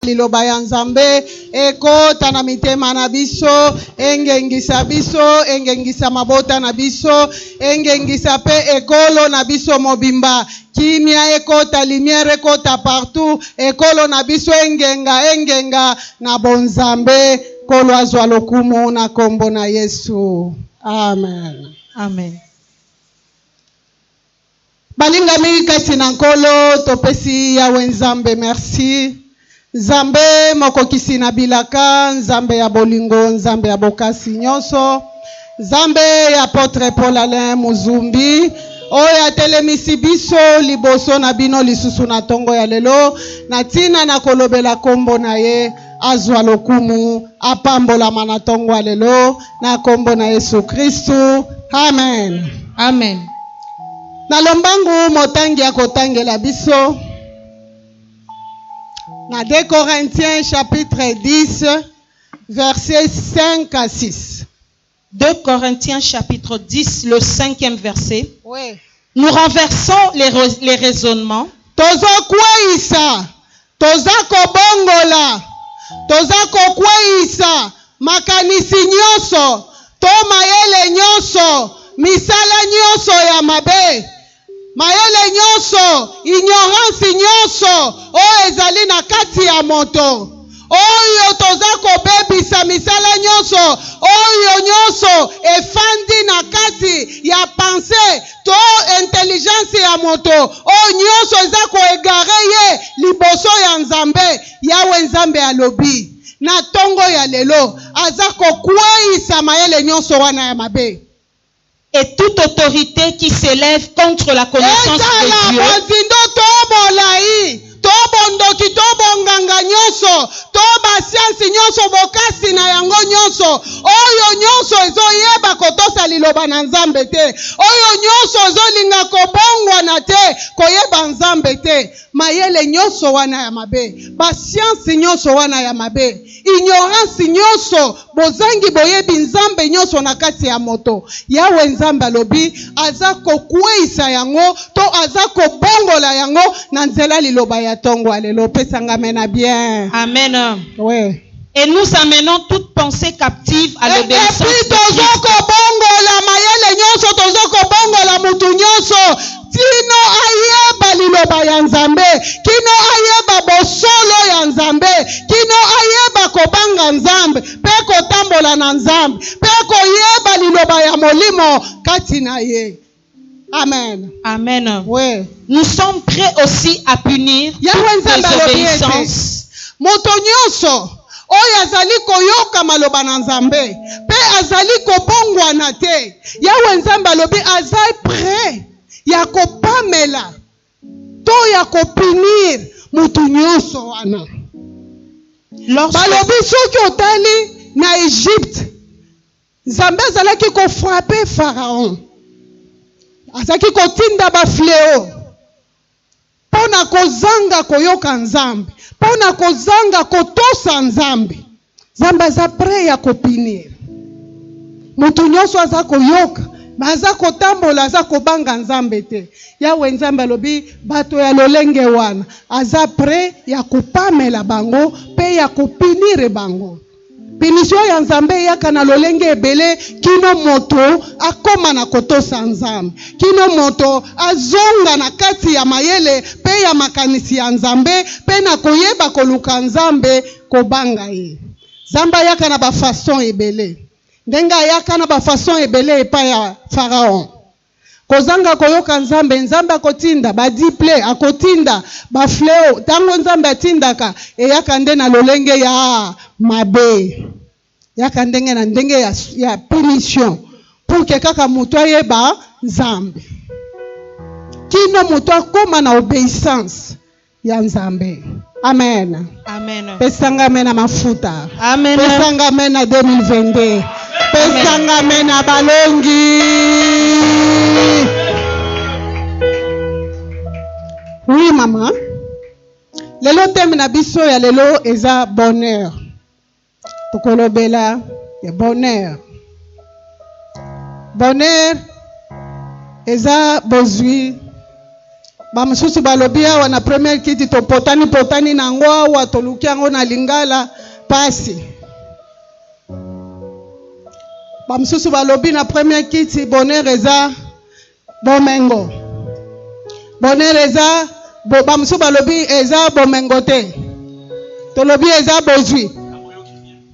liloba ya nzambe ekota na mitema na biso engengisa biso engengisa mabota na biso engengisa mpe ekolo na biso mobimba kimia ekota limiere ekota partout ekolo na biso engenga engenga na bonzambe nkolo azwa lokumu na nkombo na yesu amen amen Balingami kati na Nkolo, topesi Yawe Nzambe mersi, Nzambe mokokisi na bilaka, Nzambe ya bolingo, Nzambe ya bokasi nyonso, Nzambe ya Apotre Paul Alain Muzumbi, oyo atelemisi biso liboso na bino lisusu na ntongo ya lelo na ntina na kolobela nkombo na ye. azwa lokumu, apambolama na ntongo ya lelo na nkombo na Yesu Kristu, amen. Amen. Na lombangu motangi akotangela biso na 2 Corinthiens chapitre 10 verset 5 à 6. Deux Corinthiens chapitre 10 le cinquième verset. Oui. Nous renversons les, les raisonnements. Tozo kweyisa, toza kobongola, toza kokweyisa makanisi nyonso to mayele nyonso, misala nyonso ya mabe. Mayele nyonso, ignorance nyonso oyo ezali na kati ya moto, oyo toza kobebisa, misala nyonso oyo, nyonso efandi na kati ya pensee to intelligence ya moto, oyo nyonso eza ko egarer ye liboso ya Nzambe. Yawe Nzambe alobi, na tongo ya lelo, aza kokweyisa mayele nyonso wana ya mabe. et toute autorite qui s'elève contre la connaissance de Ezala Dieu, bozindo to bolai, to bondoki to bonganga nyonso, to basiansi nyonso, bokasi na yango nyonso, oyo nyonso ezoyeba kotosa Liloba na Nzambe te, oyo nyonso ezolinga kobongwana te, koyeba Nzambe te, mayele nyonso wana ya mabe, basiansi nyonso wana ya mabe, Ignorance nyoso, bozangi boyebi Nzambe nyoso na kati ya moto, Yawe Nzambe alobi, aza kokweyisa yango to aza kobongola yango na nzela liloba ya tongo ya lelo. Pesa nga amena bien. Amen. Ouais. Et nous amenons toute pensée captive à Et, et l'obéissance puis de Christ. tozokobongola mayele nyoso, tozokobongola mutu nyoso kino ayeba liloba ya Nzambe, kino ayeba bosolo ya Nzambe, kino ayeba kobanga Nzambe mpe kotambola na Nzambe mpe koyeba liloba ya Molimo kati na ye. Amen. Amen. Oui. Nous sommes prêts aussi à punir toute désobéissance. Moto nyonso oyo azali koyoka maloba na Nzambe pe azali kobongwana te, Yawe Nzambe alobi aza près ya kopamela to ya kopunir mutu nyonso wana. Balobi soki otali na Egypte, Nzambe azalaki kofrape Pharaon, azalaki kotinda bafleo. Mpo na kozanga koyoka Nzambe, mpo na kozanga kotosa Nzambe. Nzambe aza pre ya kopinir moto nyonso aza koyoka me aza kotambola aza kobanga nzambe te yawe nzambe alobi bato ya lolenge wana aza pre ya kopamela bango mpe ya kopinire bango Punition ya Nzambe eyaka na lolenge ebele kino moto akoma na kotosa Nzambe, kino moto azonga na kati ya mayele pe ya makanisi ya Nzambe pe na koyeba koluka Nzambe, kobanga ye. Nzambe ayaka na ba façons ebele. Ndenge ayaka na ba façons ebele epai ya Pharaon. Kozanga koyoka Nzambe, Nzambe akotinda ba diple, akotinda ba fleo. Tango Nzambe atindaka, eyaka nde na lolenge ya mabe. Yaka ndenge na ndenge ya, ya punition. Pour que kaka moto ayeba Nzambe. Kino moto akoma na obeissance. ya nzambe amen pesanga me na mafuta pesanga me na 2022 pesanga me na balongi oui mama lelo teme na biso ya lelo eza bonheur tokolobela ya bonheur bonheur eza bozwi bamosusu balobi awa na première kiti topotani potani na yango awa toluki yango na lingala mpasi bamosusu balobi na première kiti bonheur eza Bomengo. Bonheur eza bo, bamosusu balobi eza bomengo te. Tolobi eza bozwi.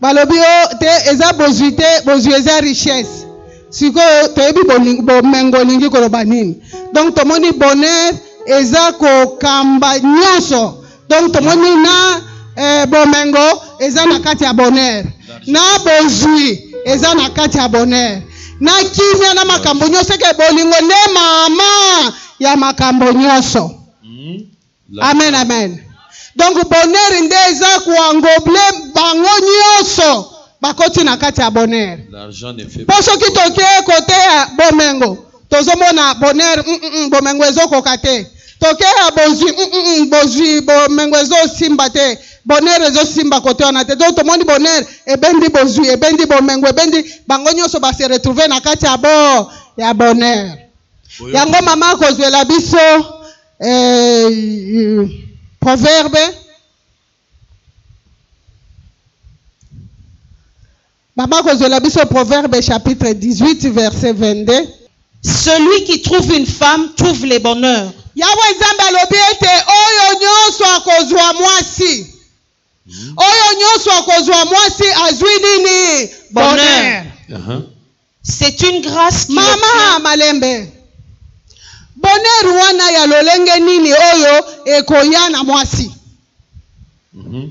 Balobi o oh, te eza bozwi te, bozwi eza richesse. Sikoyo toyebi bomengo olingi koloba nini? Donc tomoni bonheur eza kokamba nyonso donc tomoni na eh, bomengo eza na kati ya bonheur na bozwi eza na kati ya bonheur na kimia na makambo nyonso eke bolingo nde mama ya makambo nyonso hmm? amen amen donc bonheur nde eza koangoble bango nyonso bakoti na kati ya bonheur mpo soki toke koteya bomengo tozomona bonheur mm -mm, bomengo ezokoka te tokeya bozwi mm -mm, bozwi bomengo ezosimba te bonheur ezosimba kote wana te donc tomoni bonheur ebendi bozwi ebendi bomengo ebendi bango nyonso base retrouve na kati ya bo ya bonheur yango mama akozwela biso eh, proverbe Maman kozwela biso proverbe chapitre 18 verset 22. Celui qui trouve une femme trouve le bonheur. Yawe Nzambe alobi ete oyo nyonso akozwa mwasi, oyo nyonso akozwa mwasi azwi nini? Bonheur. Aha. C'est une grâce qui Mama obtient- malembe, bonheur wana ya lolenge nini oyo ekoya na mwasi? Mhm.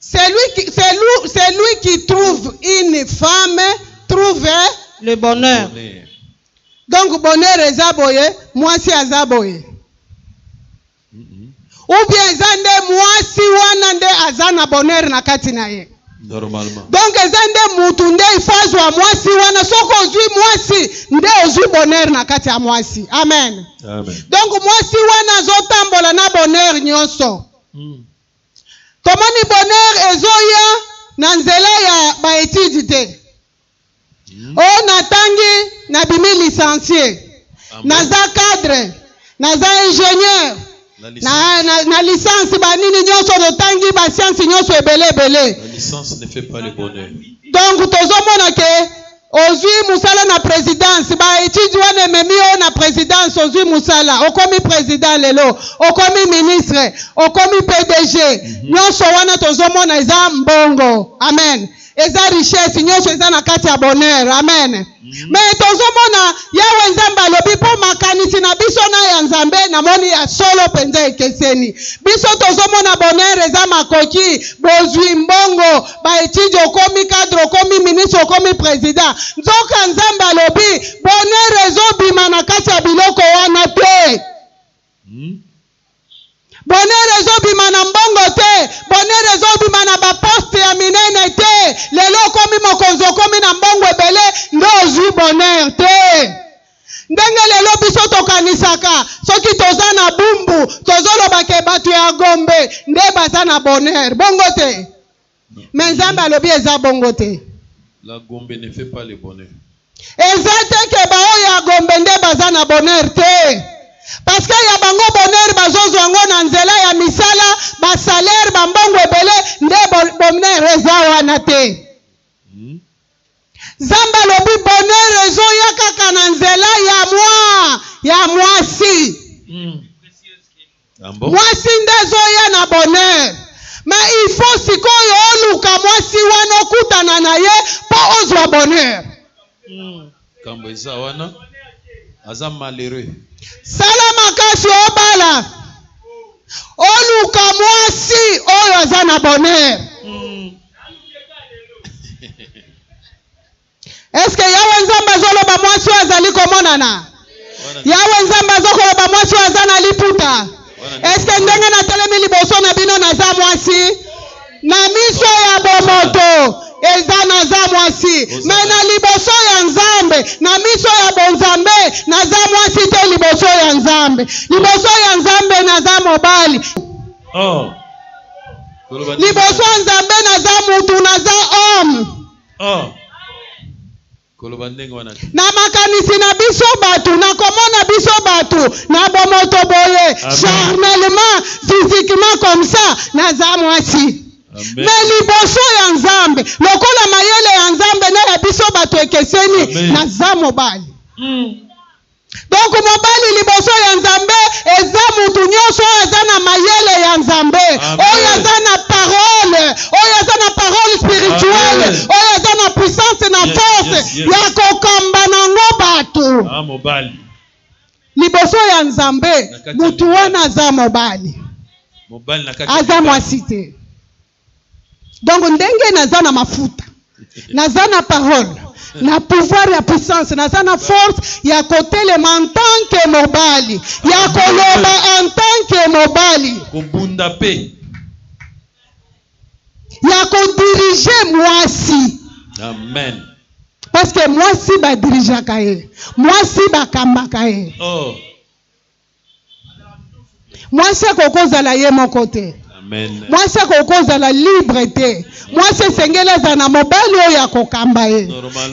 Celui qui, celui, celui qui trouve une femme trouve le bonheur. Bonheur. Donc bonheur eza boye, mwasi aza boye. Ou bien eza nde mwasi wana nde aza na bonheur na kati na ye. Normalement. Donc eza nde mutu nde ifo azwa mwasi wana, soki ozwi mwasi nde ozwi bonheur na kati ya mwasi. Amen. Amen. Donc mwasi wana azotambola na bonheur nyonso. Tomoni bonheur ezoya na nzela ya ba etudes te. Oh natangi, nabimi licencie, naza cadre, naza ingenieur, na licence ba nini nionso totangi ba sciences nionso ebele ebele. Donc tozomona que. Ozui musala na presidence ba etudes wana ememi yo na presidence ozui musala okomi president lelo okomi ministre okomi pdg nionso wana tozo mona eza mbongo amen eza richesse nionso eza na kati ya bonheur amen mais tozo mona yawe nzambe alobi po makanisi na biso na ya nzambe na moni ya solo penza ekeseni biso tozo mona bonheur eza makoki bozui mbongo ba etudes okomi cadre okomi ministre okomi president nzoka nzambe alobi bonheur ezobima na kati ya biloko wana te hmm? bonheur ezobima na mbongo te bonheur ezobima na baposte ya minene te lelo okomi mokonzi okomi na mbongo ebele nde ozwi bonheur te Ndenge lelo biso tokanisaka soki toza na bumbu tozoloba ke batu ya Gombe nde baza na bonheur bongo te mais Nzambe alobi eza bongo te. La Gombe ne fait pas le bonheur. Eza te ke ba oyo ya Gombe nde baza na bonheur te parce que ya bango bonheur bazozwa ngo na nzela ya misala ba salaire ba mbongo ebele nde bonheur eza wana te. Nzambe alobi bonheur ezo ya kaka na nzela ya mwa ya mwasi. Mwasi nde ezo ya na bonheur. Mais il faut sikoyo oluka mwasi wana okutana na ye po ozwa bonheur. Kambo eza wana aza malheureux. Sala makasi obala oluka mwasi oyo aza na bonheur. Mm. eske yawe nzambe azoloba mwasi oyo azali komonana yawe nzambe azokoloba mwasi oyo aza na liputa Eske ndenge natelemi liboso na bino naza mwasi? Na miso ya bomoto eza naza mwasi, me na liboso ya Nzambe, na miso ya bonzambe naza mwasi te. Liboso ya Nzambe, liboso ya Nzambe naza mobali. Oh. Liboso ya Nzambe naza mutu, naza homme. Oh. koloba ndenge wana te. Na makanisi na biso bato, na komona biso bato, na bomoto boye, charnellement, physiquement comme ça, naza mwasi. Me liboso ya Nzambe, lokola mayele ya Nzambe na ya biso bato ekeseni, naza mobali. Mm. Donc mobali liboso ya nzambe eza mutu nionso oyo aza na mayele ya nzambe oyo aza na parole oyo aza na parole spirituelle oyo aza na puissance na force yes, yes, yes. ya kokamba nango bato ah, mobali liboso ya nzambe mutu wana aza mobali aza mwasi te donc ndenge naza na mafuta naza na parole na pouvoir ya puissance naza na force ya kotelema en tant que mobali ya koloba en tant que mobali kobunda mpe ya kodirige mwasi amen parce que mwasi badirigeaka ye mwasi bakambaka ye oh. mwasi akoki kozala ye moko te mwasi akoki kozala libre te mwasi esengeli azala na mobali oyo akokamba ye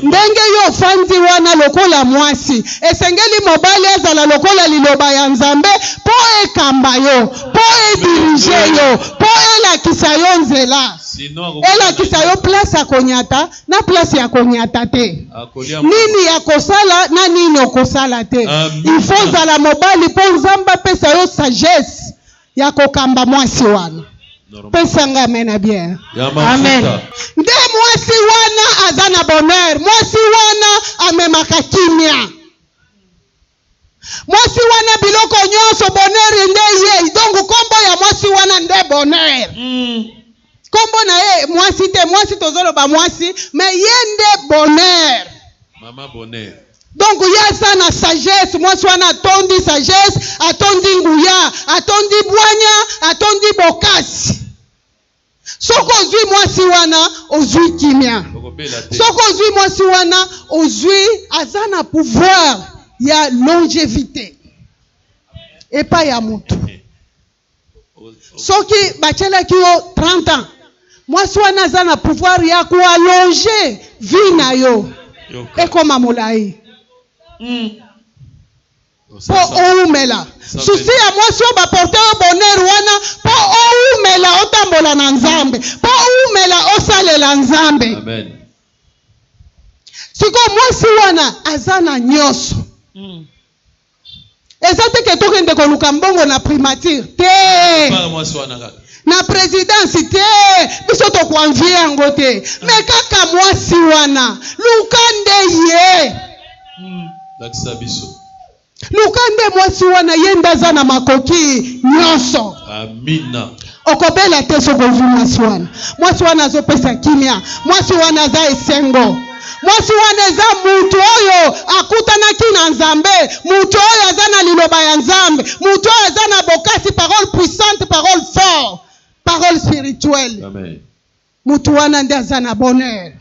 ndenge yo ofandi wana lokola mwasi esengeli mobali azala lokola liloba ya nzambe mpo ekamba yo mpo edirige yo mpo elakisa yo nzela elakisa yo place akonyata na place ya konyata te nini ya kosala na nini okosala te ifo ozala mobali mpo nzambe apesa yo sagesse ya kokamba mwasi wana pesa nga amen na bien amen nde mwasi wana aza na bonheur mwasi wana amemaka kimia Mwasi wana biloko nionso bonheur nde ye donc kombo ya mwasi wana nde bonheur. Hum. Kombo na ye mwasi te mwasi tozo loba mwasi mais ye nde bonheur. Maman bonheur. Donc ye aza na sagesse mwasi wana atondi sagesse atondi nguya atondi bwanya atondi bokasi. soki ozwi mwasi wana ozwi kimia soki ozwi mwasi wana ozwi aza na pouvoir ya longevité epai ya motu soki batyelaki yo 30 ans mwasi wana aza na pouvoir ya koalonge vie na yo ekoma molai mm. po owumela susi ya mwasi oyo baporte yo bonheur wana po owumela otambola na nzambe po owumela osalela nzambe sikoyo mwasi wana aza na nyonso mm. eza te ke tokende koluka mbongo na primature te na presidence te biso tokoanvie yango te me kaka mwasi wana luka nde ye Lakisa biso. Luka nde mwasi wana ye nde aza na makoki nyonso. Amina. Okobela te soki ozwi mwasi wana. Mwasi wana azopesa kimia, mwasi wana aza esengo. Mwasi wana eza mutu oyo akutanaki na Nzambe, mutu oyo aza na liloba ya Nzambe, mutu oyo aza na bokasi, parole puissante, parole fort, parole spirituelle. Amen. Mutu wana nde aza na bonheur.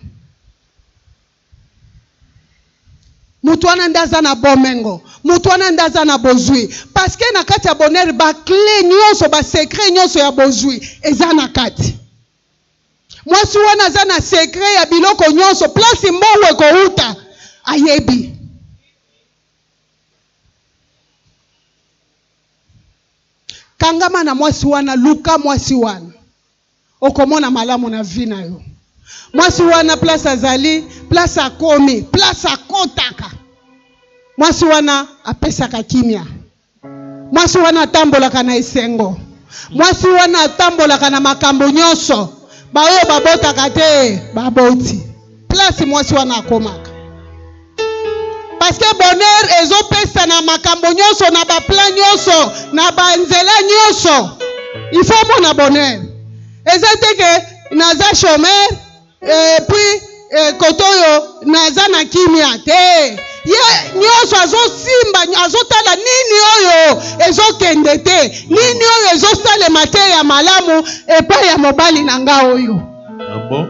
Moto wana nde aza na bomengo, moto wana nde aza na bozwi, paske na kati ya bonheur ba cle nyonso, ba secret nyonso ya bozwi eza na kati. Mwasi wana aza na secret ya biloko nyonso, place mbongo ekowuta ayebi. Kangama na mwasi wana, luka mwasi wana. Okomona malamu na vie na yo. Mwasi wana place azali, place akomi, place akotaka. Mwasi wana apesaka kimia. Mwasi wana atambolaka na esengo. Mwasi wana atambolaka na makambo nyonso. Baoyo babotaka te, baboti. place mwasi wana akomaka parceke bonheur ezopesa na makambo nyonso na baplan nyonso na banzela nyonso ifo omona bonheur eza te ke naza chomeur epuis eh, kote oyo naza na kimia te ye nyonso azosimba azotala nini oyo ezokende te nini oyo ezosalema te ya malamu epai ya mobali na nga oyo ah bon?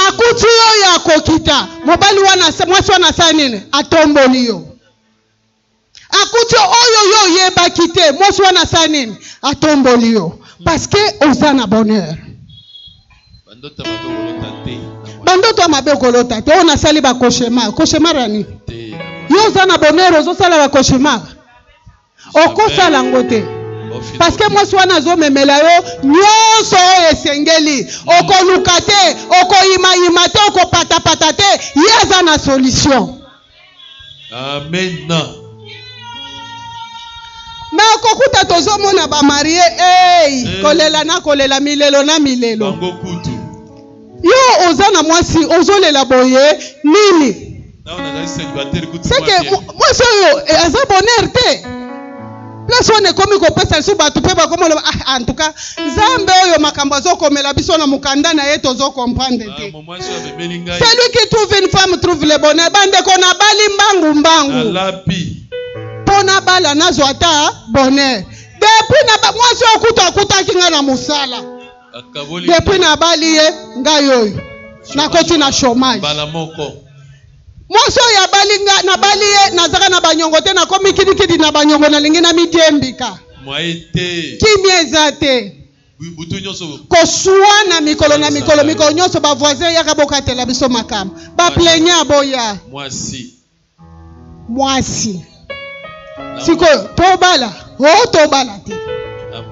akuti yo oyo akokita mobali wana mwasi wana asala nini atomboli yo akuti oyo yo oyebaki te mwasi wana asala nini atomboli yo paske oza na bonheur bandoto ya mabe okolota te oyo nasali bakoshemar koshemar ya nini yo oza na bonheur ozosala bakoshemar okosala yango te paske mwasi wana azomemela yo nyonso oyo esengeli okoluka te okoyimayima te okopatapata te ye aza na solution amen me okokuta tozomona bamarie ei eh. kolela na kolela milelo na milelo yo oza na mwasi ozolela boye nini seke mwasi oyo eh, aza bonheur te place wana ekomi kopesa lisusu bato mpe bakomi oloba ah, en tout cas nzambe oyo makambo azokomela biso na mokanda na ye tozo comprendre te ah, celui qui trouve une femme trouve le bonheur bandeko nabali mbangu mbangu mpo nabala nazwa ata bonheur depuis na mwasi oyo kutu akutaki ngai na mosala depuis nabali ye ngai oyo nakoti na chômage mbala moko mwasi oyo abali nga nabali ye nazaka na banyongo te nakomi kidikidi na banyongo nalingi namidiembika kimia eza te koswana mikolo na mikolo mikolo nyonso bavoisin yaka bokatela biso makambo baplenya boya mwasi sikoyo tobala o oh, tobala te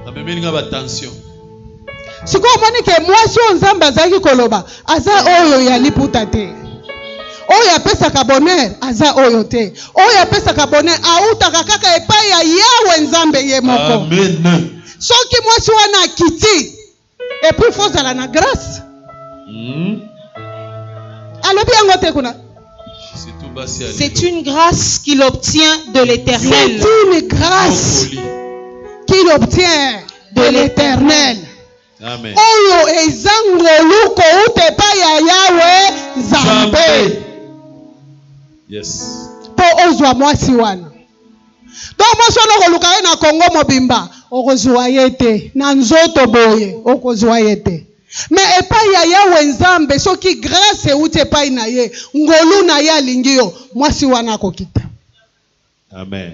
amemeli nga batension sikoyo omoni ke mwasi oyo nzambe azalaki koloba aza oyo ya liputa te oyo apesaka bonheur aza oyo te oyo apesaka bonheur autaka kaka epai ya yawe nzambe ye moko soki mwasi wana akiti et puis faut zala na grâce hmm? alobi yango te kuna c'est une grâce qu'il obtient de l'éternel c'est une grâce qu'il obtient de l'éternel oyo eza ngolu kouta epai ya yawe nzambe mpo ozwa mwasi wana Donc mwasi wana okoluka ye na Congo mobimba, okozua ye te. Na nzoto boye, okozua ye te. Mais epai ya Yawe Nzambe, soki grace euti epai na ye, ngolu na ye alingi yo, mwasi wana akokita. Amen.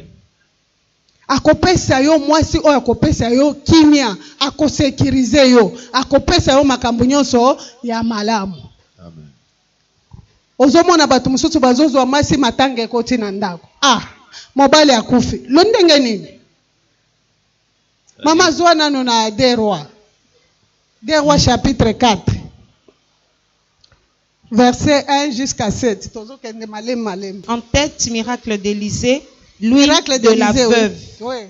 Akopesa yo mwasi oyo akopesa yo kimia, akosecuriser yo, akopesa yo makambo nyonso ya malamu. Amen. ozomona bato mosusu bazozwa mwasi matanga ekoti na ndako ah mobali akufi lo ndenge nini mama zwa nano na de roi de roi chapitre 4 verset 1 jusqu'à 7 tozokende malemi malemi en tête miracle d'élysée l'huile de la veuve oui.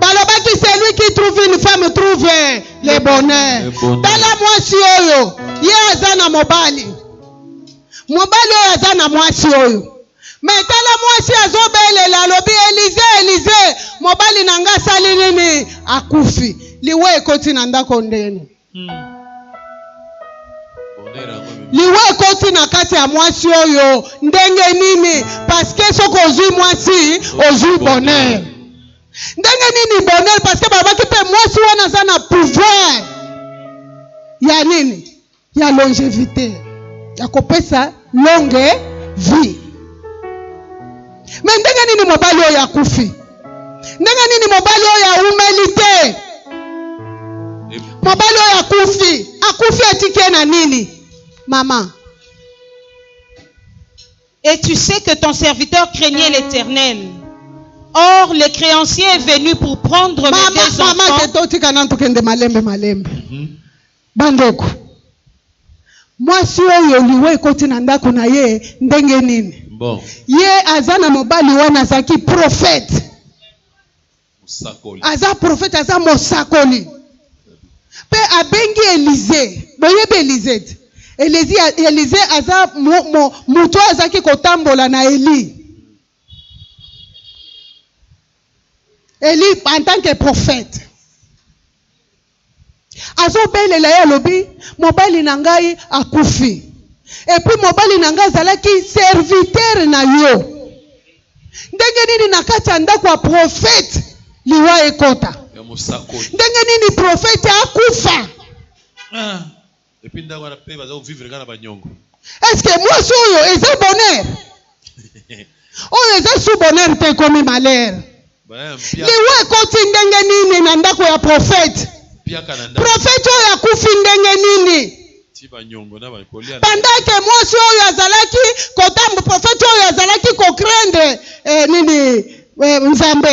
balobaki celui qui trouve une femme trouve le bonheur tala mwasi oyo ye aza na mobali mobali oyo aza na mwasi oyo me tala mwasi azobelela alobi elize elize mobali na ngai asali nini akufi liwa ekoti na ndako ndeni liwa ekoti na kati ya mwasi oyo ndenge nini parceke soki ozwi mwasi ozwi bonheur ndenge nini bonheur parceke balobaki mpe mwasi wana aza na pouvoir ya nini ya longevité ya kopesa longue vie me ndenge nini mobali oyo akufi ndenge nini mobali oyo aumeli te mobali oyo akufi akufi atike na nini mama et tu sais que ton serviteur craignait l'éternel or le créancier est venu pour prendre mes deux enfants maman, maman, Bandeko, mwasi oyo liwa ekoti na ndako na ye ndenge nini? Bon. Ye aza na mobali wana azalaki profete, aza profete, aza mosakoli mpe abengi Elize. Boyebi Elize te? Elize, Elize aza moto oyo azalaki kotambola na Eli. Eli en tant que profete Azo belela ye alobi mobali na ngai akufi et puis mobali na ngai azalaki serviteur na yo ndenge nini na kati ya ndako ya prophète liwa ekota ndenge nini prophète akufa ah. Et puis ndako wana pe baza ko vivre kaka na ba nyongo. Est ce que mwasi oyo eza bonheur? oyo eza sous bonheur te ekomi malheur. Liwa ekoti ndenge nini na ndako ya prophète? Prophète oyo akufi ndenge nini? bandake mwasi oyo azalaki kotambo prophète oyo azalaki kocrendre eh, nini eh, nzambe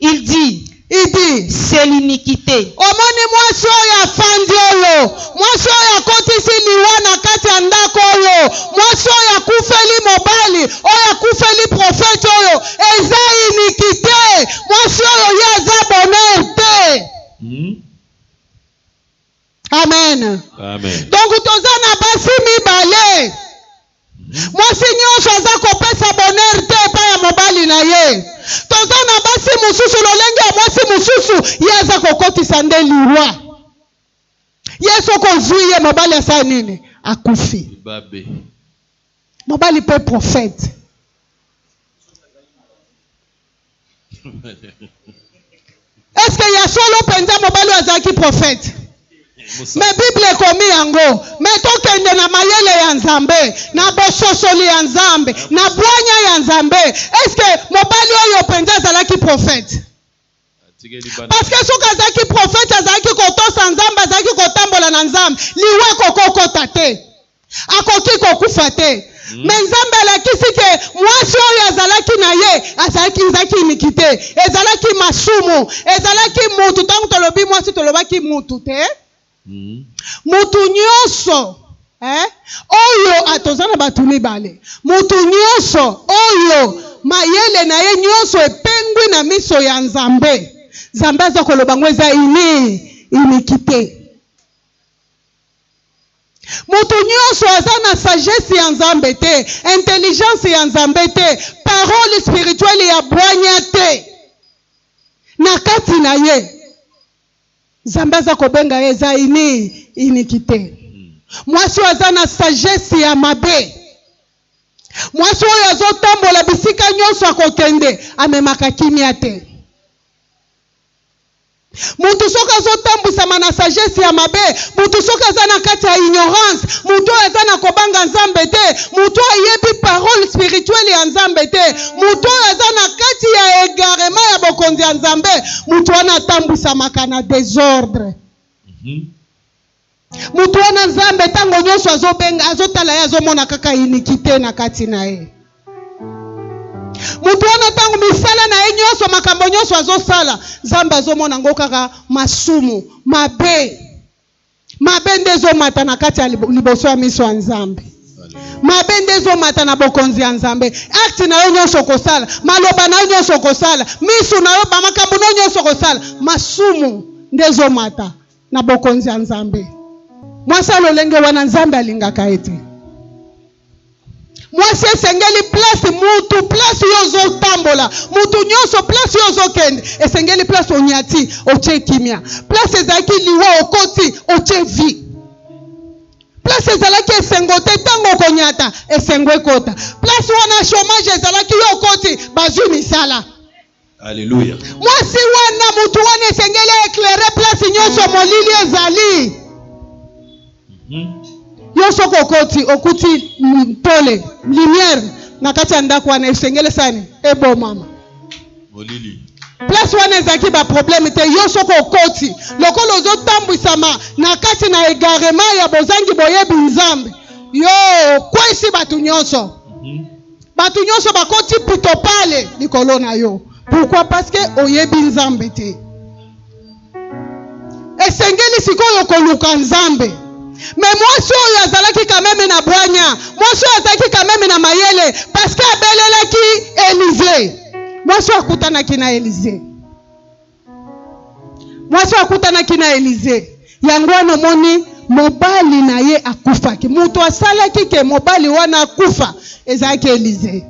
Il dit, Il dit, c'est l'iniquité. omoni mwasi oyo afandi oyo mwasi oyo akotisi liwa na kati ya ndako oyo mwasi oyo akufeli mobali oyo akufeli profete oyo eza inikite mwasi oyo ye aza bonheur te Hmm? amen donc toza na basi mibale mwasi nyonso aza kopesa bonheur te epai ya mobali na ye toza na basi mosusu lolenge ya mwasi mosusu ye aza kokotisa nde liwa ye soki ozwi ye mobali asala nini akufi mobali mpe profete Est-ce que ya solo penza mobali azalaki prophète? Mais Bible ekomi yango. Mais tokende na mayele ya Nzambe, na bososoli ya Nzambe, na bwanya ya Nzambe. Est-ce que mobali oyo penza azalaki prophète? Parce que soki azalaki prophète, azalaki kotosa Nzambe, azalaki kotambola na Nzambe, liwa ekokokota te. akoki kokufa te hmm. me nzambe alakisi ke mwasi oyo azalaki na ye azalaki ezalaki iniki te ezalaki masumu ezalaki mutu ntango tolobi mwasi tolobaki mutu te hmm. mutu nyonso eh? oyo ah, toza na bato mibale mutu nyonso oyo mayele na ye nyonso epengwi na miso ya nzambe nzambe aza koloba ngo eza ini iniki te Moto nionso aza na sagesse ya Nzambe te, intelligence ya Nzambe te, parole spirituelle ya bwanya te na kati na ye. Nzambe aza kobenga ye eza ini, iniquite. Mwasi oyo aza na sagesse ya mabe. Mwasi oyo azotambola bisika nionso akokende, amemaka kimia te. Mutu soki azo tambwisama na sagesse ya mabe, mutu soki aza na kati ya ignorance, mutu oyo aza na kobanga Nzambe te, mutu oyo ayebi parole spirituelle ya Nzambe te, mutu oyo aza na kati ya egarement ya bokonzi ya Nzambe, mutu wana atambwisamaka na desordre. Moto wana Nzambe ntango nyonso azobenga, azotala ye, azomona kaka inikite na kati na ye. Moto wana ntango misala na ye nyonso, makambo nyonso azosala, Nzambe azomona yango kaka masumu, mabe. Mabe nde ezomata na kati ya liboso ya miso ya Nzambe. mabe nde ezomata na bokonzi ya nzambe akti na yo nyonso okosala maloba na yo nyonso okosala miso na yo bamakambo na yo nyonso okosala masumu nde ezomata na bokonzi ya Nzambe. Mwasi ya lolenge wana Nzambe alingaka ye te. Mwasi esengeli place mutu place yo ozotambola mutu nyonso place yo ozokende esengeli place onyati otie kimia place ezalaki liwa okoti otie vie place ezalaki esengo te ntango okonyata esengo ekota place wana chomage ezalaki yo okoti bazwi misala Alléluia. Mwasi wana mutu wana esengeli eclaire place nyonso mm. molili ezali. Mm-hmm. Yo soki okoti okuti mpole lumière na kati ya ndako wana esengeli sani ebomama. Molili. Place wana ezalaki ba problème te yo soki okoti lokola ozotambwisama na kati na egarement ya bozangi boyebi Nzambe yo okwesi bato nyonso. Mm -hmm. Bato nyonso bakoti pitopale likolo na yo. Pourquoi? Parce que oyebi Nzambe te. Esengeli sikoyo koluka Nzambe. me mwasi oyo azalaki kameme na bwanya mwasi oyo azalaki kameme na mayele paske abelelaki elize mwasi oyo akutanaki na elize mwasi oyo akutanaki na elize yango wana omoni mobali na ye akufaki moto asalaki ke mobali wana akufa ezalaki elize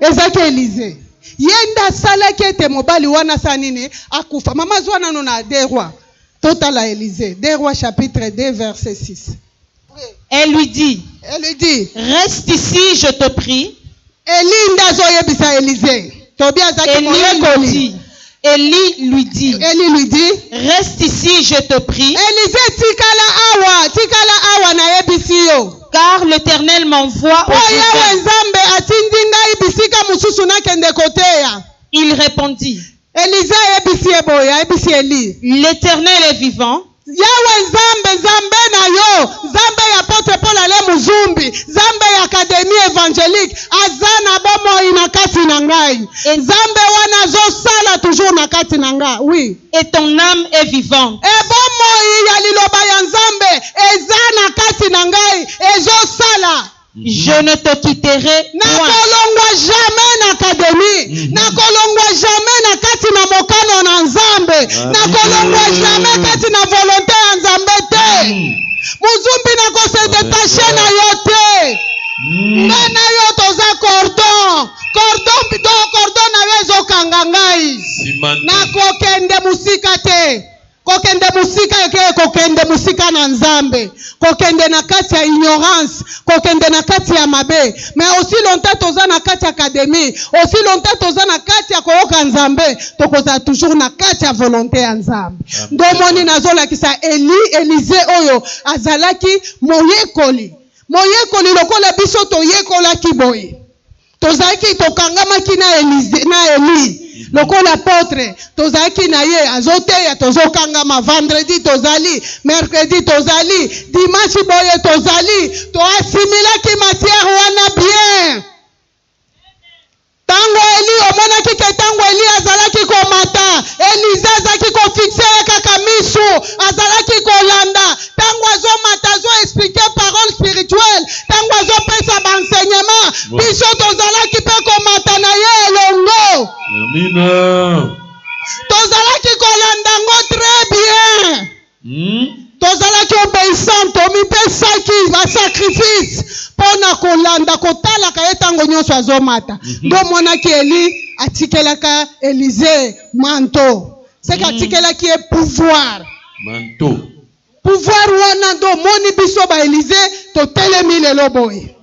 ezalaki elize ye nde asalaki ete mobali wana asala nini akufa mama azwa nano na de roi totala elize de roi chapitre 2 verset 6 Elle lui dit, Elle lui dit, Reste ici, je te prie. Elie nde azoyebisa Elize. Tobi azalaki Elie lui moyekoli. dit, Elie lui dit, Elie lui dit, Reste ici, je te prie, Elize tikala awa, tikala awa nayebisi yo. car l'Éternel m'envoie au Po Yawe Jourdain. Nzambe atindi ngai bisika mosusu nakende koteya. Il répondit, Elisa ayebisi ye boye, ayebisi Eli. L'Eternel est vivant. Yawe Nzambe, Nzambe na yo, Nzambe ya Apotre Paul Alain Muzumbi, Nzambe ya Academie Evangelique, aza na bomoi na kati na ngai. Et- Nzambe wana azosala toujours na kati na nga. Oui. Et ton âme est vivante. E bomoi ya liloba ya Nzambe eza na kati na ngai, ezosala. Je ne te quitterai point. nakolongwa jamais na academie Mhm. nakolongwa jamais na kati na mokano na nzambe Amen. nakolongwa jamais kati na volonte ya nzambe te Mm. mozumbi nakose detache na yo te Mm. nga na yo toza cordon cordon to cordon na yo ezokanga ngai Simante. nakokende mosika te Kokende mosika eke kokende mosika na Nzambe, kokende na kati ya ignorance, kokende na kati ya mabe. Mais aussi longtemps toza na kati ya academie, aussi longtemps toza na kati ya koyoka Nzambe, tokozala toujours na kati ya volonte ya Nzambe. Nde omoni nazolakisa Eli, Elize oyo azalaki moyekoli, moyekoli lokola biso toyekolaki boye. tozalaki tokangamaki na Elise, na Elise lokola apotre tozalaki na ye azoteya tozokangama vendredi tozali mercredi tozali dimanche boye tozali toasimilaki matière wana bien ntango eli omonaki ke ntango eli azalaki komata elize azalaki kofikse ye kaka misu azalaki kolanda ntango azomata azo explike parole spirituelle ntango azopesa baenseignement biso tozalaki mpe komata na ye elongo amina tozalaki kolanda ngo très bien hmm? tozalaki obeissant tomipesaki basacrifice mpo na kolanda kotalaka ye ntango nyonso azomata mhm. nde omonaki eli atikelaka elize manto seke mm. atikelaki ye pouvoir manto pouvoir wana nde omoni biso baelize totelemi lelo boye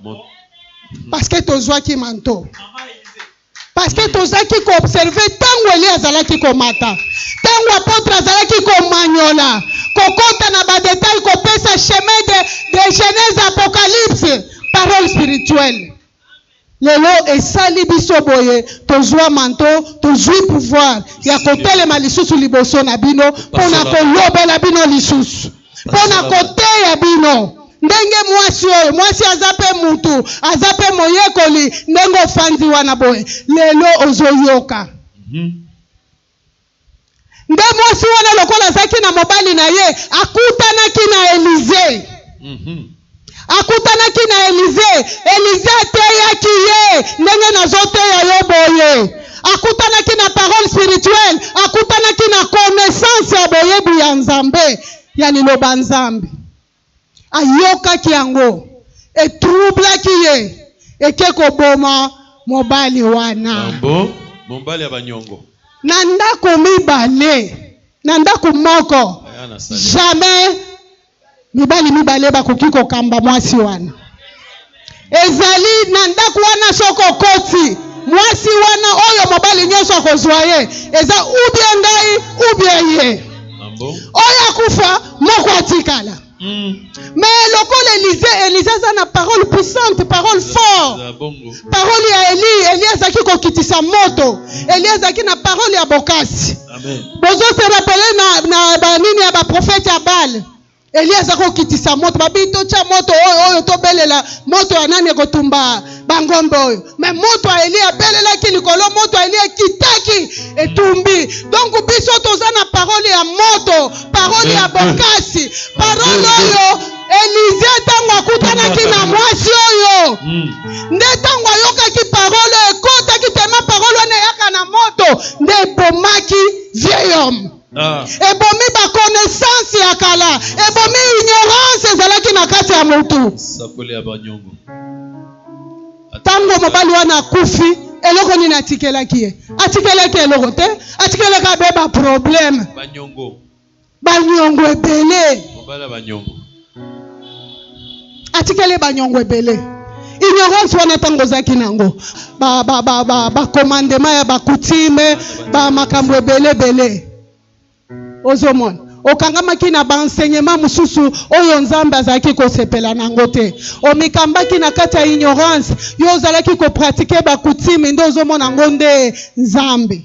parceke tozwaki manto parceke tozalaki koobserve ntango eli azalaki komata ntango apotre azalaki komanyola kokɔta na badetail kopesa chemin de, de genèse apocalypse parole spirituelle Lelo esali biso boye tozua manteau, tozui pouvoir ya kotelema lisusu liboso na bino pona kolobela bino lisusu, pona koteya bino ndenge muasi oyo, muasi aza pe mutu, aza pe moyekoli, ndenge ofandi wana boye lelo ozo yoka. Nde mwasi wana, lokola azalaki na mobali na ye, akutanaki na Elize. Mhm. Akutanaki na Elize. Elize ateyaki ye ndenge nazoteya yo boye. Akutanaki na parole spirituelle, akutanaki na connaissance ya boyebi ya Nzambe, ya liloba Nzambe. Ayokaki yango, etroublaki ye, eke koboma mobali wana. Ah bon? Mobali ya ba nyongo. Na ndako mibale, na ndako moko, jamais mibali mibale bakoki kokamba mwasi wana. Ezali na ndako wana soki okoti mwasi wana oyo mobali nyonso akozwa ye eza ubie ngai ubie ye oyo akufa moko atikala Mm. Mais lokola Elise, Elise aza na parole puissante, parole fort. Parole ya Eli, Eli azaki kokitisa moto. Eli azaki na parole ya bokasi. Bozo se rappeler na, na ba nini ya ba prophète ya Baal. eliya aza kokitisa moto babi totya moto oyo oyo tobelela moto ya nani ekotumba bangombe oyo me moto ya eliya abelelaki likolo moto ya eliya ekitaki etumbi donk biso toza na parole ya moto parole ya bokasi parole oyo elize ntango akutanaki na mwasi oyo hmm. nde ntango ayokaki parole oyo ekotaki tema parole wana eyaka na moto nde ebomaki vieil homme Ah. ebomi ba connaissance ya kala ebomi ignorance ezalaki na kati ya motu ntango mobali wana akufi eloko nini atikelaki ye atikelaki eloko te atikelaki abe baproblème banyongo ebele atikeli banyongo ebele ignorance wana ntango ozalaki na yango bakomandema ya bakutime bamakambo ebele ebele ozomona okangamaki na baenseignement mosusu oyo nzambe azalaki kosepela na yango te omikambaki na kati ya ignorance yo ozalaki kopratike bakutime nde ozomona yango nde nzambe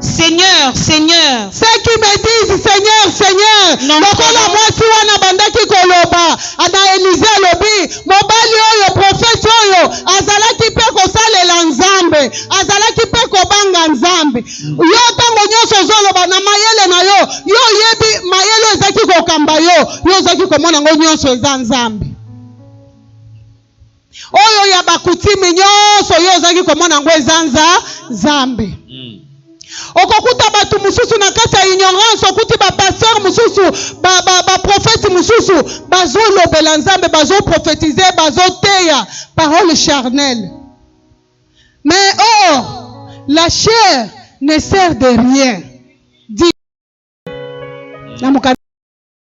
Seigneur, Seigneur. Ceux qui me disent Seigneur, Seigneur, lokola mwasi wana abandaki koloba na Elize, alobi mobali oyo profeti oyo azalaki mpe kosalela Nzambe, azalaki mpe kobanga Nzambe. Yo ntango nyonso ozoloba na mayele na yo, yo oyebi mayele oyo ezaki kokamba yo, yo ozaki komona yango nyonso eza Nzambe. Oyo ya ba coutume nyonso yo ozalaki komona yango eza nza Nzambe. Mm. Okokuta bato mosusu na kati ya ignorance, okuti bapasteur mosusu baprofete ba, ba mosusu bazolobela Nzambe, bazoprofetize, bazoteya parole charnelle. Mais or, la chair ne sert de rien. Dit.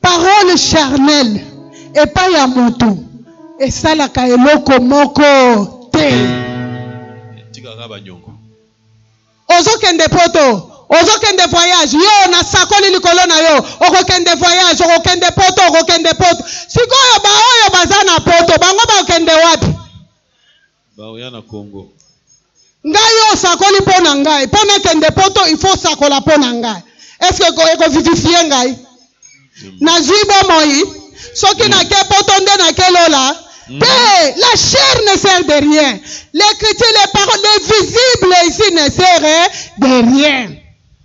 Parole charnelle epai ya moto esalaka eloko moko te. Etikaka banyongo. Ozokende poto, ozokende voyage, yo nasakoli likolo na yo, okokende voyage, okokende poto, okokende poto. Sikoyo baoyo baza na poto, bango bakende wapi? Baoya na Congo. Ngai oyo osakoli mpo na ngai, mpo nakende poto il faut sakola mpo na ngai. Est-ce que eko vivifie ngai? Nazui bomoi, soki mm. nake poto nde nake lola. Mm. Te, la chair ne sert de rien. L'écriture, les paroles, les visibles ici ne sert de rien.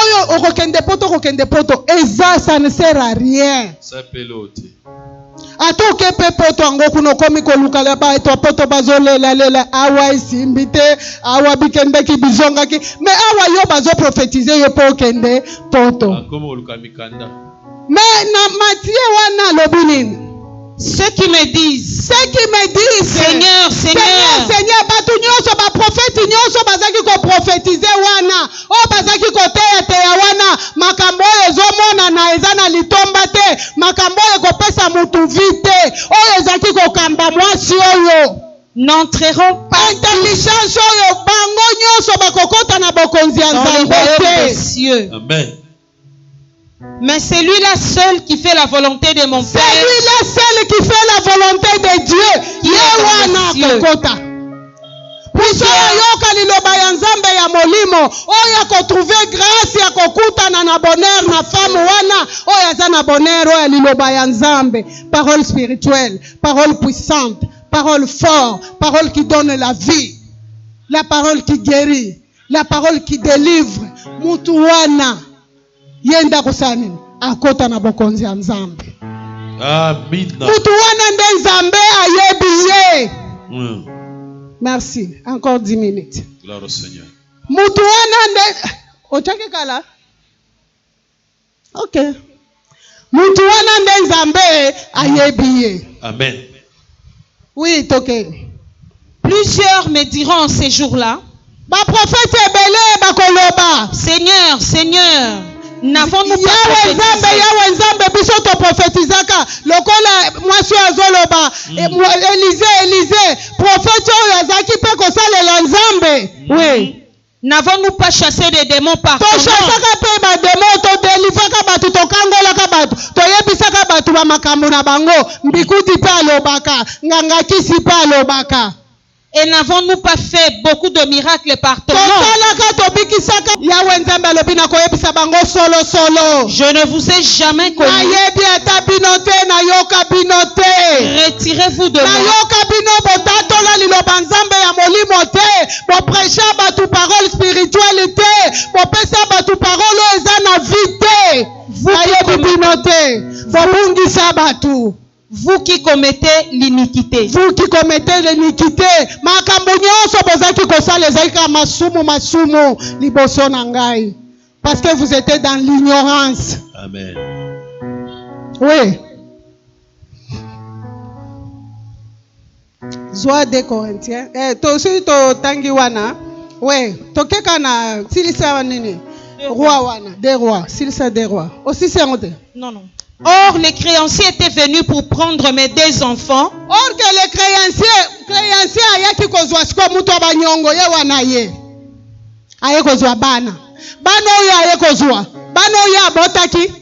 oyo okokende poto okokende poto eza ça ne sert à rien ata oke mpe poto yango kuna okomi kolukala bato ya poto bazolelalela awa esimbi te awa bikendeki bizongaki me awa yo bazoprofetize yo mpo okende poto Mais na Mathieu wana alobi nini? Ceux qui me disent, Ceux qui me disent, Seigneur, Seigneur, Seigneur, Seigneur, bato nyonso, baprofeti nyonso bazalaki koprofetize wana, oyo bazalaki koteyateya wana, makambo oyo ezomonana eza na litomba te, makambo oyo ekopesa motu vi te, oyo ezalaki kokamba mwasi oyo n'entreront pas intelligence oyo bango nyonso bakokota na bokonzi ya dans le Nzambe royaume te. des cieux. Amen. Mais celui-là seul qui fait la volonté de mon Père. Celui-là seul qui fait la volonté de Dieu. Yewana kokota. biso yoka liloba ya nzambe ya molimo oyo akotrouve grâce ya kokutana na bonheur na femme wana oyo aza na bonheur oyo ya liloba ya nzambe parole spirituelle parole puissante parole fort parole qui donne la vie la parole qui guérit La parole qui delivre mutu wana ye nde akosala nini? Akota na bokonzi ya Nzambe. Amina. Mutu wana nde Nzambe ayebi ye. Mm. Merci. Encore 10 minutes. Gloire au Seigneur. Mutu wana nde otaki kala Ok. Mutu wana nde Nzambe ayebi ye. Amen. Oui, toke. Plusieurs me diront ces jours-là. Ba prophètes ebele bakoloba. Seigneur, Seigneur, n'avons-nous pas Yawe Nzambe, prophétisé? Yawe Nzambe, biso to prophétisaka lokola mwasi oyo azoloba e, mwa- Elize, Elize, prophète oyo azalaki mpe kosalela Nzambe. Oui. N'avons-nous pas chasse des demons par ton nom? Tochasaka pe ba demon, to delivraka batu, tokangolaka batu, toyebisaka batu ba makambo na bango, mbikuti pe alobaka, nganga kisi pe alobaka. Et n'avons-nous pas fait beaucoup de miracles par ton nom? Tosalaka, tobikisaka. Yawe Nzambe alobi, Nakoyebisa bango solo solo. Je ne vous ai jamais connu. Nayebi ata bino te, nayoka bino te. Retirez-vous de moi. Nayoka bino, botatola liloba Nzambe ya molimo te. kopresha bato parole spirituele te kopesa bato parole oyo eza na vi te bayebi bino te kobungisa bato vous qui commettez l'iniquité vous qui commettez l'iniquité makambo nyonso bozalaki kosala ezalaki kaka masumu masumu liboso na ngai parce que vous étiez dans l'ignorance amen oui zwa de corinthiens eh, to soki totangi wana we tokeka na silisa nini roi wana de roi silisa de roi osisi yango te non non Or, les créanciers étaient venus pour prendre mes deux enfants. Or que les créanciers, créanciers ayaki kozwa sikoyo moto ya banyongo ye wana ye aye kozwa bana bana oyo aye kozwa bana oyo abotaki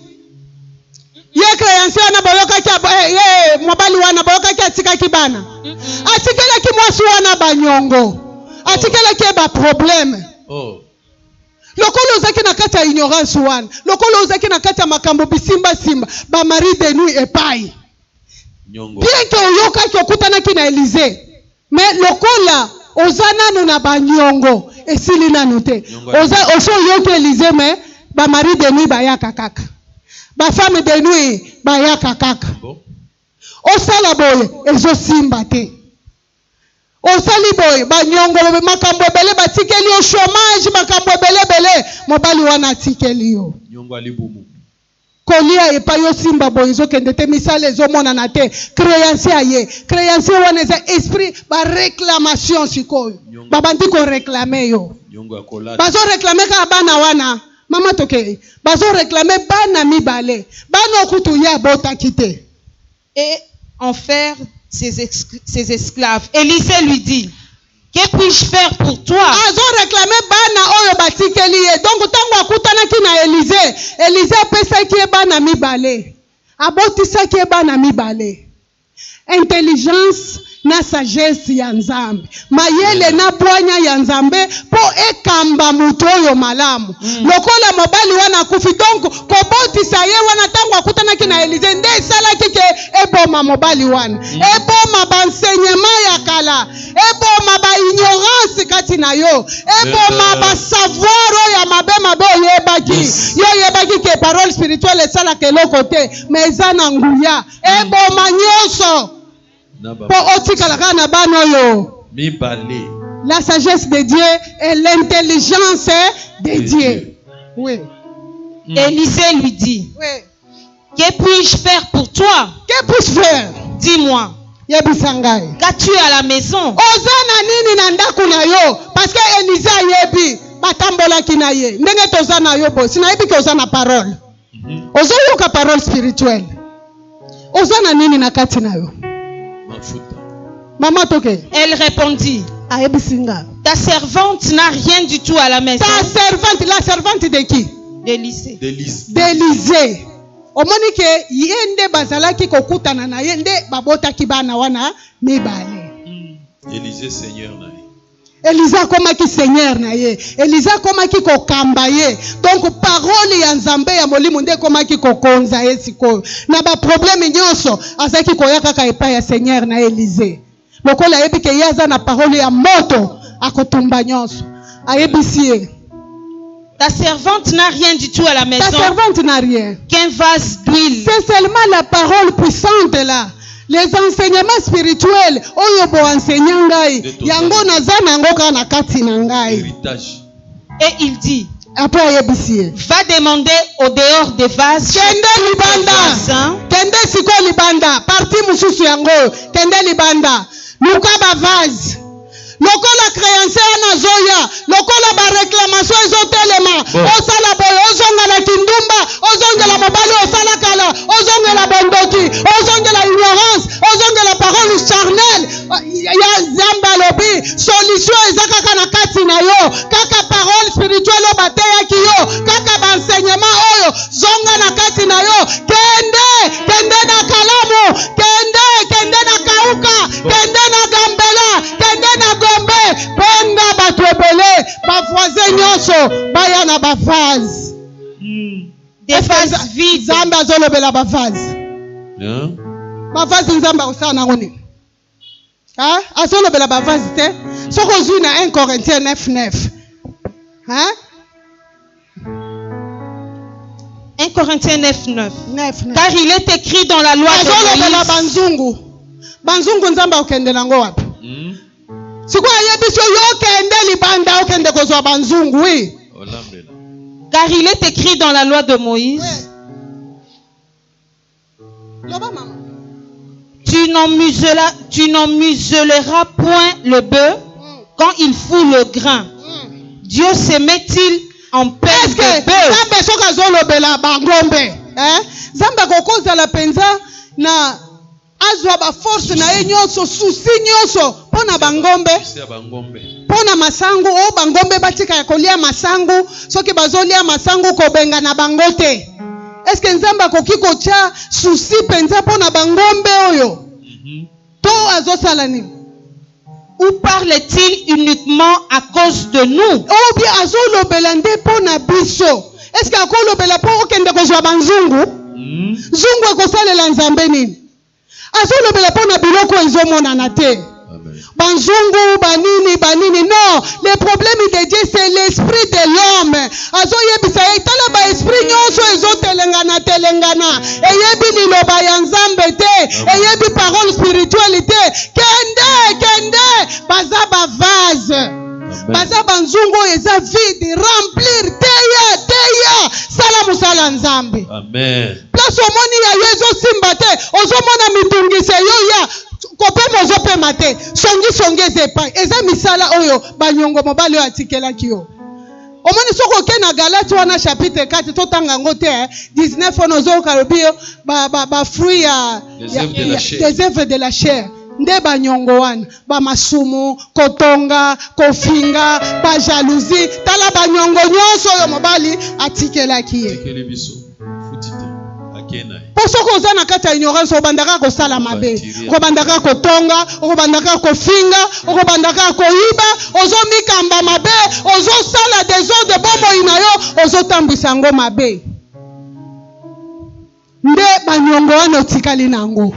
ye creance wana boyokaki eh, ye mobali wana boyokaki atikaki bana atikelaki mwasi wana banyongo atikelaki ye baprobleme oh. lokola ozalaki na kati ya ignorance wana lokola ozalaki na kati ya makambo bisimbasimba bamari de nuit epai bien ke oyokaki okutanaki na elise Mais lokola oza nanu na ba niongo esili nanu te oza osi oyoki Elysee mais ba marie de nuit bayaka kaka ba femme de nuit bayaka kaka osala boye ezo simba te osali boye ba niongo makambo ebele batikeli yo chomage makambo ebele ebele mobali wana atikeli yo niongo ya libumu Kolia epayi osimba boye ezokende te misala ezomonana te creancier aye creancier wana eza esprit ba reclamation sikoyo babandi ko reclame yo bazo reclame kaka bana wana mama tokei bazo reclame bana mibale bana okutu ye abotaki te et en faire ses, ses esclaves. Elisée lui dit, Que puis-je faire pour toi? azo réclamer bana oyo batikeli ye donc ntango akutanaki na elize elize apesaki ye bana mibale abotisaki ye bana mibale intelligence na sagesse ya Nzambe, mayele na bwanya ya Nzambe mpo ekamba moto oyo malamu. Mm. Lokola mobali wana akufi, donc kobotisa ye wana ntango akutanaki na Elize nde esalaki ke eboma mobali wana, mm. eboma bansenyema ya kala, eboma ba ignorance kati na yo, eboma eh. ba savoir oyo ya mabe mabe oyebaki. Yo oyebaki ke parole spirituelle esalaka eloko te, mais eza na nguya, mm. eboma nyonso. Po otikala kaka na bana oyo mibale. La sagesse de Dieu et l'intelligence de Dieu. Oui. Mm. Élisée lui dit, oui. Que puis-je faire pour toi Que puis-je faire Dis-moi. yebisa ngai qu'as-tu à la maison oza na nini na ndako na yo parce que elise ayebi batambolaki na ye ndenge toza na yo bosi nayebi ke oza na parole ozoyoka parole spirituelle oza na nini na kati na yo mafuta mama toke elle répondit ayebisi nga ta servante n'a rien du tout à la maison ta servante la servante de qui d'Élysée d'Élysée omoni ke ye nde bazalaki kokutana na ye nde babotaki bana wana mibale hmm. Élysée seigneur na ye Eliza akomaki seigneur na ye. Eliza akomaki kokamba ye. Donc parole ya Nzambe ya molimo nde ekomaki kokonza ye sikoyo. Na ba problème nyonso azaki koya kaka epai ya seigneur na Elize. Lokola ayebi ke ye aza na parole ya moto akotumba nyonso. Ayebisi ye Ta servante n'a rien du tout à la maison. Ta servante n'a rien. Qu'un vase d'huile. C'est seulement la parole puissante là. Les enseignements spirituels oyo bo enseigne ngai yango naza na yango kaka na kati na ngai. Héritage. Et il dit après ayebisi ye va demander au dehors des vases kende libanda kende sikoyo libanda parti mosusu yango kende libanda luka bavase lokola creance wana azoya lokola bareklamation ezotelema osala boye ozonga na kindumba ozongela mobali osala kala ozongela bondoki ozongela ignorance ozongela parole charnel ya nzambe alobi solution eza kaka na kati na yo kaka parole spirituel oyo bateyaki yo kaka baenseignement oyo zonga na kati na yo kende kende na kalamu kende kende na kauka kende na gambela kende na gombe benga bato ebele bavoisin nyonso baya na bavase hmm. nzambe azolobela bavase bavase nzambe akosala nango nini azolobela bavase te soki ozwi na 1 corintien 9 9 1 Corinthiens 9, 9. 9, 9. Car il est écrit dans la loi de azolobela Moïse. banzungu banzungu nzambe akokende nango wapi Hmm? sikoyo ayebi so yo okende libanda okende kozwa banzungu wi Olambela. Car il est écrit dans la loi de Moïse. Loba mama. Tu n'en muselas, tu n'en museleras point le bœuf mm. quand il fout le grain. Mm. Dieu se met-il en paix de bœuf? Zambe soki azolobela bangombe, hein? Zambe akokozala penza na azwa ba force na ye nyonso, souci nyonso mpo na bangombe mpo na masangu oyo oh, bangombe batika ya kolia masangu soki bazolia masangu kobenga na bango te eske nzambe akoki kotya susi mpenza mpo na bangombe oyo mhm. to azosala nini ou parle-t-il uniquement à cause de nous oyo oh, bie azolobela nde mpo na biso eske akolobela mpo okende kozwa banzungu mhm. zungu ekosalela nzambe nini azolobela mpo na biloko oyo ezomonana te banzungu banini banini non le problème de dieu c'est l'esprit de l'homme azoyebisa ye tala baesprit nyonso ezotelengana telengana eyebi liloba ya nzambe te eyebi parole spirituelle te kende kende baza bavase baza banzungu oyo eza vide remplir teya teya sala mosala nzambe amen place omoni ya yo ezosimba te ozomona mitungisi eyoya kopema ozopema te songisongi eza epai eza misala oyo banyongo mobali oyo atikelaki yo omoni soki oke na galati wana chapitre 4 totanga yango te 19 eh. wana ozoyoka lobi yo bafruit ya des œuvres de la chair nde banyongo wana bamasumu kotonga kofinga bajalousie tala banyongo nyonso oyo mobali atikelaki ye mpo soki oza na kati ya ignorance okobandaka kosala mabe okobandaka kotonga okobandaka kofinga okobandaka koyiba ozomikamba mabe ozosala desordre bomoi na yo ozotambwisa yango mabe nde banyongo wana otikali na yango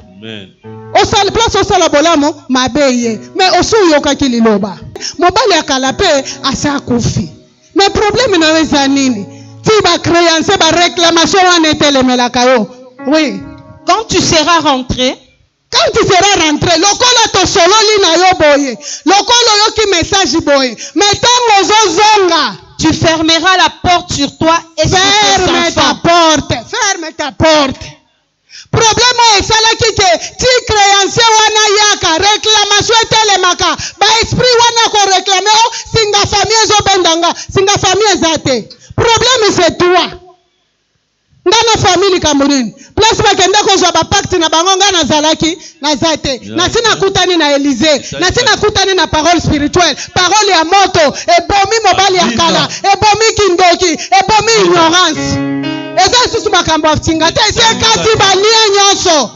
osala place osala bolamu mabe ye me osi oyokaki liloba mobali ya kala mpe asi akufi Mais problème na yo eza nini? Ti ba créanciers ba réclamation wana etelemelaka yo. Oui. Quand tu seras rentré, quand tu seras rentré lokola tosololi na yo boye lokola oyoki message boye me ntango ozozonga tu fermeras la porte sur toi et ferme ta porte ferme ta porte Problème oyo esalaki que ti creancier wana ayaka, reclamation etelemaka, ba esprits wana ya ko reclamer oh singa famille ezo benda nga, singa famille eza te. Problème c'est toi. Nga na famille likambo nini? Place bakenda kozwa ba pacte na bango nga nazalaki? naza te nasi nakutani na elize nasi nakutani na parole spirituelle parole ya moto ebomi mobali ya kala ebomi kindoki ebomi ignorance eza lisusu makambo ya nsinga te esi ekati balie nyonso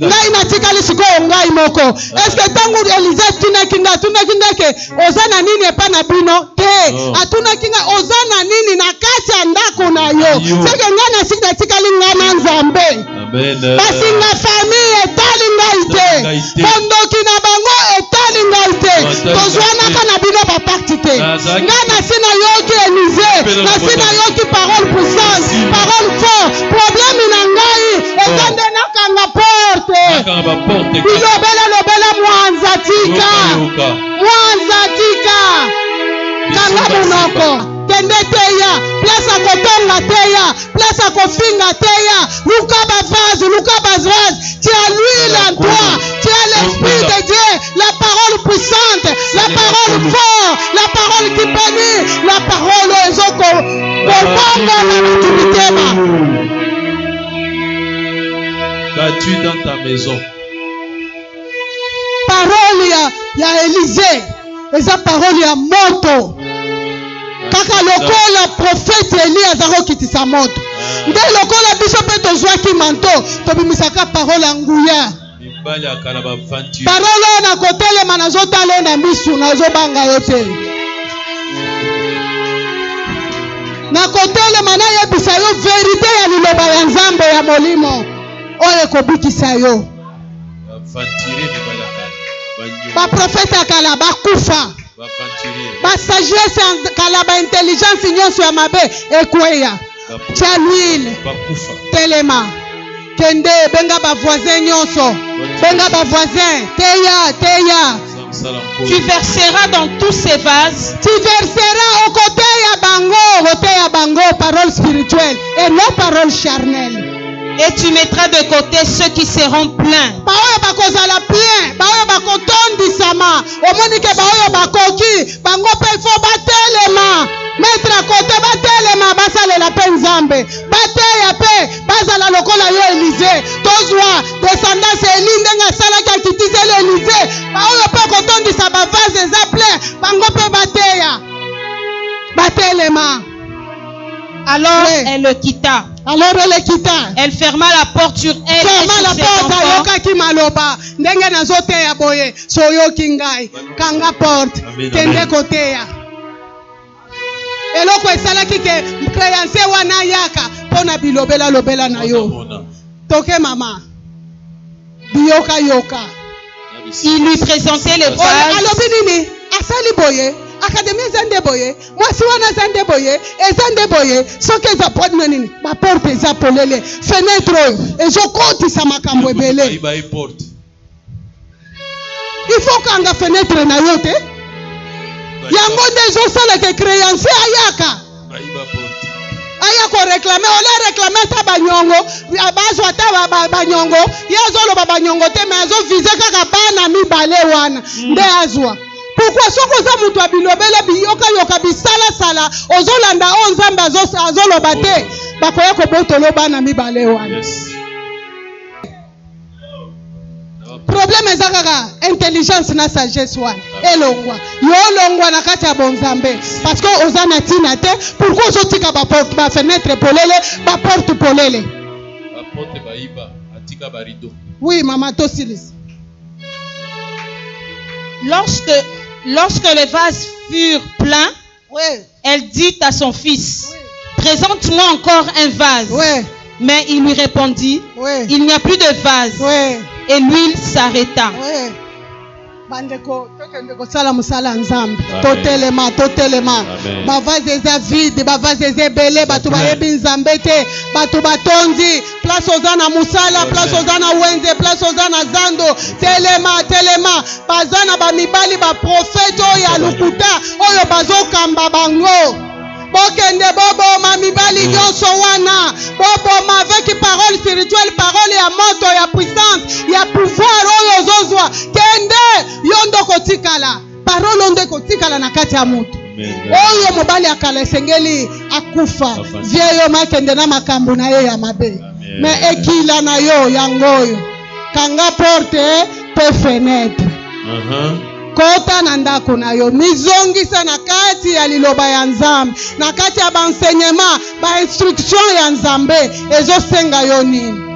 ngai natikali sikoyo ngai moko eske ntango elize atunaki ngai atunaki ngai ke oza na nini epai na bino te oh. atunaki ngai oza na nini na kati ya ndako na yo soki ngai natikali ngai na nzambe kasi nga famille etali ngai te bondoki na bango etali ngai te tozwanaka na bino bapakti te nga nasi nayoki elise nasi nayoki parole puissance parole fort probleme na ngai eza nde nakanga porte bilobela lobela mwanza tika mwanza tika kanga monoko kende teya place akotonga teya place ya kofinga teya luka bavase luka bavase tu as l'huile en toi tu as l'esprit de dieu la parole puissante la parole fort la parole qui bénit la parole oyo ezoko kobongola bato mitema Qu'as-tu dans ta maison parole ya, ya elize eza parole ya moto kaka lokola profete eli aza kokitisa moto ah. nde lokola biso mpe tozwaki manto tobimisaka parole ya nguya parole oyo nakotelema nazotala ye na misu nazobanga yo te nakotelema nayebisa yo verite ya liloba ya nzambe ya molimo oyo ekobikisa yo baprofete ya kala bakufa basagesse ya kala baintelligence nyonso ya mabe ekweya tya lwile telema kende benga bavoisin nyonso benga bavoisin teya teya Tu verseras dans tous ces vases. Tu verseras au côté ya bango, au côté ya bango, parole spirituelle et non parole charnelle. Et tu mettras de côté ceux qui seront pleins. baoyo bakozala plein baoyo bakotondisama omoni ke baoyo bakoki bango mpe fo batelema mettre à côté batelema basalela mpe nzambe bateya mpe bazala lokola yo elize tozwa descendance ya eli ndenge asalaki akitiseli elize baoyo mpe kotondisa bavase eza plein bango mpe bateya batelema alors oui. elle le quitta alors elle le quitta elle ferma la porte sur elle ferma la porte ayokaki maloba ndenge nazoteya boye soyoki ngai kanga porte kende koteya eloko esalaki ke creance wana ayaka mpo na bilobela lobela na yo toke mama biyoka yoka il lui présentait les pages alobi nini asali boye akademi eza nde boye mwasi wana eza nde boye eza nde boye soki eza podino nini baporte eza polele fenetre oyo ezokotisa makambo ebele il faut kanga fenetre na yo te yango nde ezosala ke créancier ayaka aya koreklame ole reklame ata banyongo bazwa ata banyongo ye azoloba banyongo te me azovize kaka bana mibale wana hmm. nde azwa pourkui soki oza moto ya bilobele biyokayoka bisalasala ozolanda oyo nzambe azoloba te bakoya kobotolo bana mibale wana yes. problème eza kaka intelligence na sagesse wana elongwa yo olongwa na kati ya bonzambe parce que oza na ntina te pourkui ozotika bafenetre polele baporte polele oui mama tosilisa lorsque, lorsque les vases furent pleins Oui. Elle dit à son fils, oui. présente-moi encore un vase. Oui. Mais il lui répondit, oui. il n'y a plus de vase. Oui. Et l'huile s'arrêta. Oui. bandeko tokende kosala mosala ya nzambe totelema totelema bavaze eza vide bavaze eza ebele bato bayebi nzambe te bato batondi place oza na mosala place oza na wenze place oza na zando telema telema baza na bamibali baprofete oyo ya lokuta oyo bazokamba bango bokende boboma mibali mm. nyonso wana boboma avec parole spirituelle parole ya moto ya puissance ya pouvoir oyo ozozwa kende yo nde okotikala parole oyo nde ekotikala na kati ya moto oyo mobali ya kala esengeli akufa vie yo makende na makambo na ye ya mabe me ekila na yo yango oyo kanga porte mpe fenetre uh-huh. kota na ndako na yo mizongisa na kati ya liloba ya nzambe na kati ya baenseignement bainstruction ya nzambe ezosenga yo nini